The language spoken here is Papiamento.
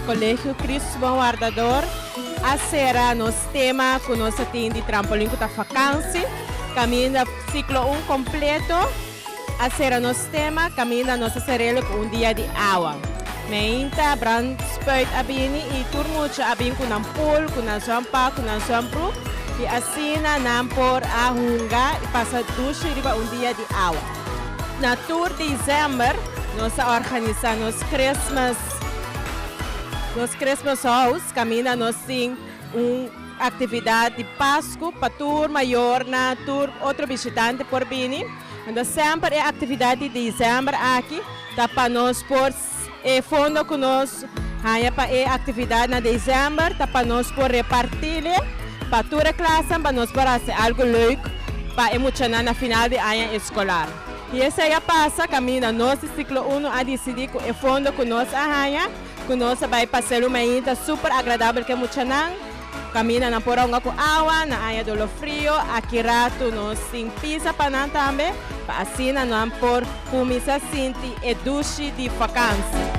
Colegio Cristo Bon Wardador a cera nos tema cu nos a tin di trampolin cu ta Vakansi caminda ciclo un completo a cera nos tema caminda nos a cerelo cu un dia di awa meinta Bran Spuit a bini y tur mucha a bin cu nan pool cu nan zwam pa cu nan zwam broek y asina nan por a hunga y pasa dushi riba un dia di awa. Na tur December nos a organisa nos Christmas Nos Christmas House kaminda nos tin un aktividat di Pasku pa tur mayornan, tur otro bishitante por bini. Entos semper e aktividat di December aki ta pa nos por e fondo ku nos haña pa e aktividat na December ta pa nos por repartile pa tur e klasnan pa nos por hasi algu leuk pa e muchanan na final di aña eskolar. I esei a pasa kaminda nos di Siklo Uno a disidí ku e fondo ku nos a haña, ku nos a bai pa Selu Meín ta súper agradabel ku e muchanan. Kaminda nan por a hunga ku awa, nan haña dolo frío, aki ratu nos tin pisa pa nan tambe, pa asina nan por kuminsá sinti e dushi di vakansi.